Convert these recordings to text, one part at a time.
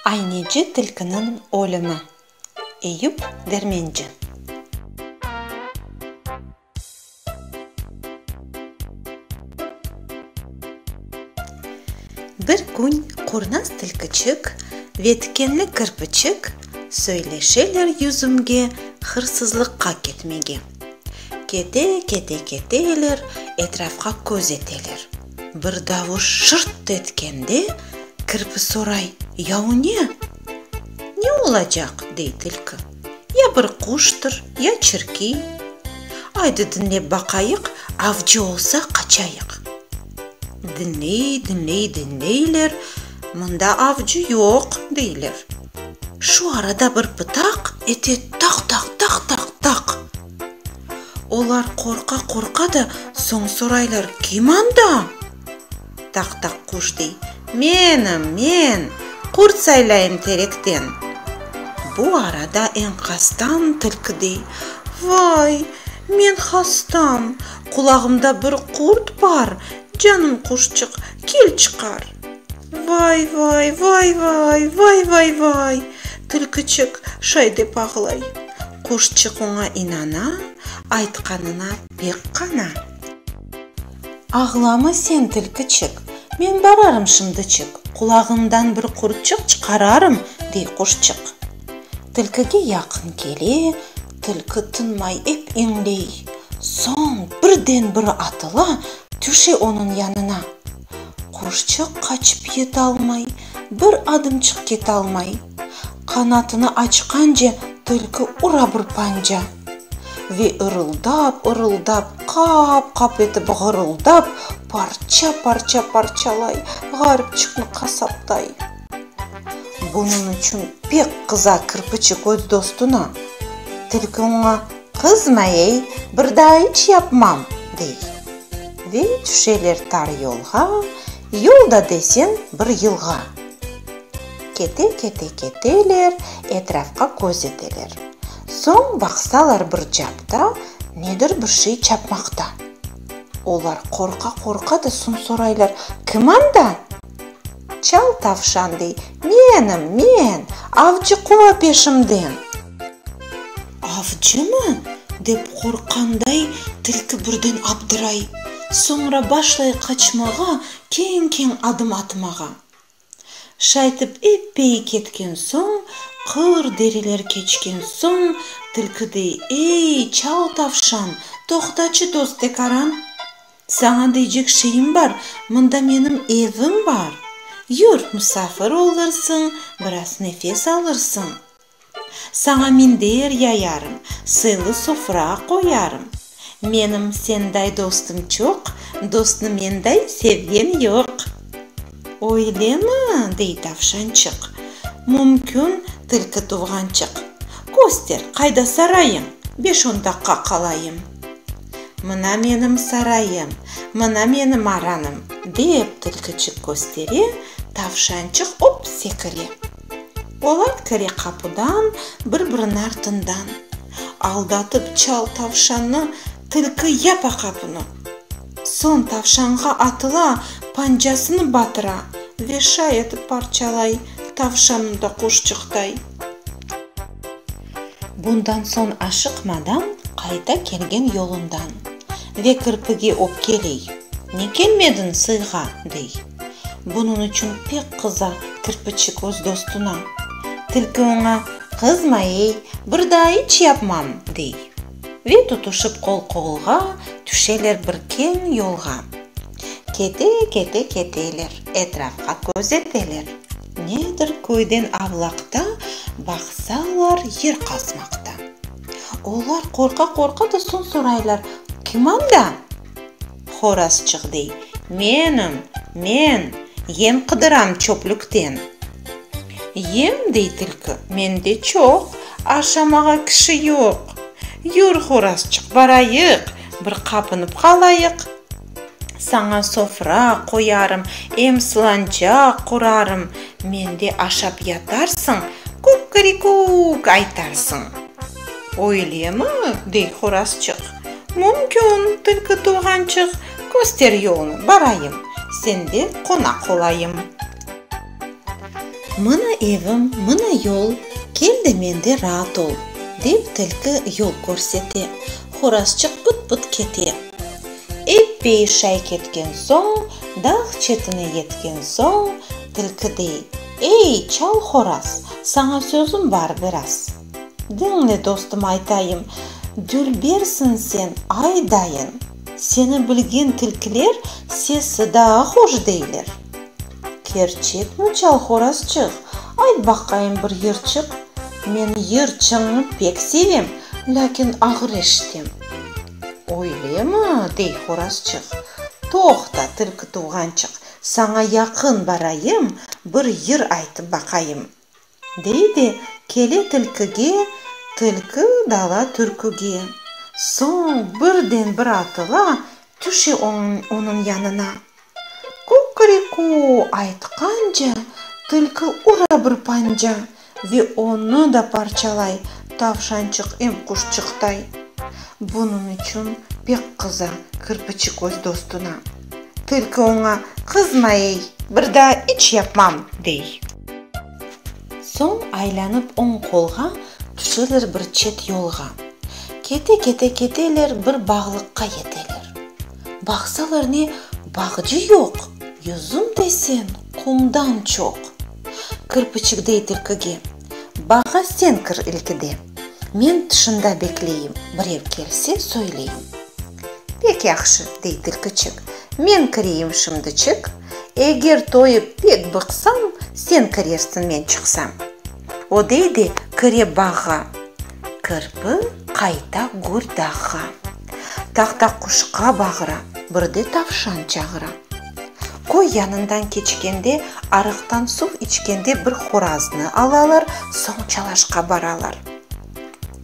Ayneci tilkiniñ ölümi. Eyüp Dermenci. Bir kün Kurnaz tilkiçik ve Tikenli kirpiçik söyleşeler yüzümge hırsızlıqqa ketmege. Kete, kete, keteler, etrafqa köz eteler. Bir davuş şırt etkende, kirpi soray, Ya o ne? Ne olacaq? dey tilki. Ya bir quştır, ya çirki. Aydı diñlep baqayıq, avcı olsa qaçayıq. Diñley, diñley, diñleyler, mında avcı yoq, deyler. Şu arada bir pıtaq ete taq, taq, taq, taq, taq. Olar qorqa-qorqa da soñ soraylar, kim anda? Taq-taq quş dey, Menim, men, qurt saylayım terekten. Bu arada enkazdan tilki dey, Vay, men hastam, qulağımda bir qurt bar, canım quşçıq, kel çıqar. Vay-vay, vay-vay, vay-vay-vay! Tilkiçik şay dep ağlay. Quşçıq oña inana, aytqanına pek qana. Ağlama sen, tilkiçik, men bararım şimdiçik, qulağıñdan bir qurtçıq çıqararım, dey quşçıq. Tilkige yaqın kele, tilki tınmay ep iñley, soñ birden bir atıla, tüşe onıñ yanına. Quşçıq qaçıp yetalmay, bir adımçıq ketalmay. Qanatını açqance tilki ura bir panca. Ve ırıldap-ırıldap, qap-qap etip ğırıldap, parça-parça parçalay, ğaripçıqnı qasaptay. Bunıñ içün pek qıza kirpiçik öz dostuna, Tilki oña, Qızma-ey, bir daa iç yapmam! dey. Ve tüşeler tar yolğa, yol da deseñ bir yılğa. Kete-kete keteler, etrafqa köz eteler. Soñ baqsalar bir capta nedir bir şey çapmaqta. Olar qorqa-qorqa da soñ soraylar, Kim anda? Çal tavşan dey, Menim, men, avcı quva peşimden. Avcımı? dep qorqqanday tilki birden abdıray, soñra başlay qaçmağa, keñ-keñ adım atmağa. Şaytip epey ketken soñ, qır deriler keçken soñ, tilki dey, Ey, çal tavşan, toqtaçı dost Tekaran, saña deycek şeyim bar, mında menim evim bar, yür, musafir olursıñ, biraz nefes alırsıñ. Saña minder yayarım, sıylı sofra qoyarım. Menim senday dostum çoq, dostnı menday sevgen yoq. Öylemi? dey tavşançıq. Mümkün, tilki tuvğançıq. Köster, qayda sarayıñ, beş-on daqqa qalayım. Mına menim sarayım, mına menim aranım, dep tilkiçik köstere, tavşançıq op sekire. Polat kire qapudan, bir-birini artından. Aldatıp çal tavşannı, tilki yapa qapını. Soñ tavşanğa atıla, pancasını batıra ve şay etip parçalay, tavşanı da quşçıqtay. Bundan soñ aşıqmadan qayta kelgen yolundan. Ve kirpige öpkeley, Ne kelmediñ sıyğa? dey. Bunıñ içün pek qıza kirpiçik öz dostuna. Tilki oña, Qızma-ey, bir daa iç yapmam, dey. Ve tutuşıp qol-qolğa tüşeler bir keñ yolğa. Kete-kete keteler, etrafqa köz eteler. Nedir köyden avlaqta, baqsalar, yer qazmaqta. Olar qorqa-qorqa da soñ soraylar, Kim anda? Horazçıq dey, Menim, men, yem qıdıram çöplükten. Yem, dey tilki, mende çoq, aşamağa kişi yoq. Yür, Horazçıq, barayıq, bir qapınıp qalayıq. Saña sofra qoyarım, em sılancaq qurarım, mende aşap yatarsıñ, kukkerikuk aytarsıñ. Öylemi? dey horazçıq. Mümkün, tilki tuvğançıq. Köster yolnı, barayım. Sende qonaq olayım. Mına evim, mına yol, kel de mende raat ol, dep tilki yol körsete. Horazçıq pıt-pıt kete. Eppey şay ketken soñ, dağ çetine yetken soñ, tilki dey. Ey, çal horaz, saña sözüm bar biraz. Diñle, dostum, aytayım, dülbersiñ sen, ay dayın! Seni bilgen tilkiler sesi daa hoş deyler. Kerçekmi, çal horazçıq, ayt baqayım bir yırçıq? Men yırçıñnı pek sevem, lâkin ağır eşitem. Öylemi? dey horazçıq. Toqta, tilki tuvğançıq, Saña yaqın barayım, bir yır aytıp baqayım, dey de, kele tilkige, tilki dala türküge. Soñ birden bir atıla, tüşe onıñ yanına. Kukuriku aytqance, tilki ura bir panca, Ve onı da parçalay. Tavşançıq em quşçıqtay. Bunıñ içün pek qıza kirpiçik öz dostuna. Tilki oña, Qızma ey, bir daa iç yapmam! dey. Soñ aylanıp oñ qolğa tüşeler bir çet yolğa. Kete-kete keteler, bir bağlıqqa yeteler. Baqsalar ne, bağcı yoq. Yüzüm desen, qumdan çoq. Kirpiçikdey tilkige. Bağğa sen kir ilkide. Men tışında bekleyim. Birev kelse, söyleyim. Pek yahşı, dey tilkiçik. Men kireyim şimdiçik. Eger toyıp pek bıqsam, sen kirersiñ, men çıqsam. O dey de kire bağğa. Kirpi qayta gür dağğa. Tahta quşqa bağıra. Bir de tavşan çağıra. Köy yanından keçkende, arıqtan suv içkende bir horaznı alalar, soñ Çalaşqa baralar.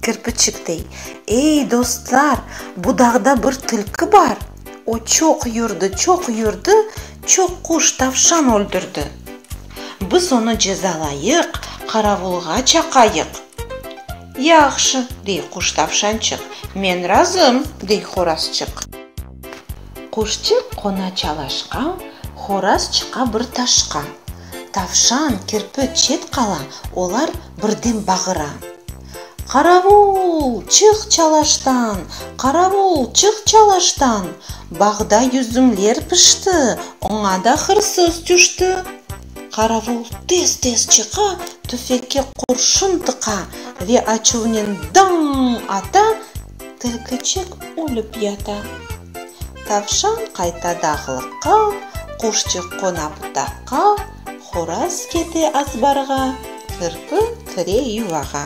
Kirpiçik dey, Ey, dostlar, bu dağda bir tilki bar. O çoq yürdi, çoq yürdi, çoq quş, tavşan öldürdi. Biz onı cezalayıq, qaravulğa çaqayıq. Yahşı, dey quş-tavşançıq. Men razım, dey horazçıq. Quşçıq qona çalaşqa, Horaz çıqa bir taşqa. Tavşan, kirpi çet qala, Olar birden bağıra. Qaravul, çıq çalaştan! Qaravul, çıq çalaştan! Bağda yüzümler pişti, Oña da hırsız tüşti. Qaravul tez-tez çıqa, tüfekke qurşun tıqa ve açuvnen daññ ata, tilkiçik ölip yata. Tavşan qayta dağlıqqa, quşçıq qona butaqqa, horaz kete azbarğa, kirpi kire yuvağa.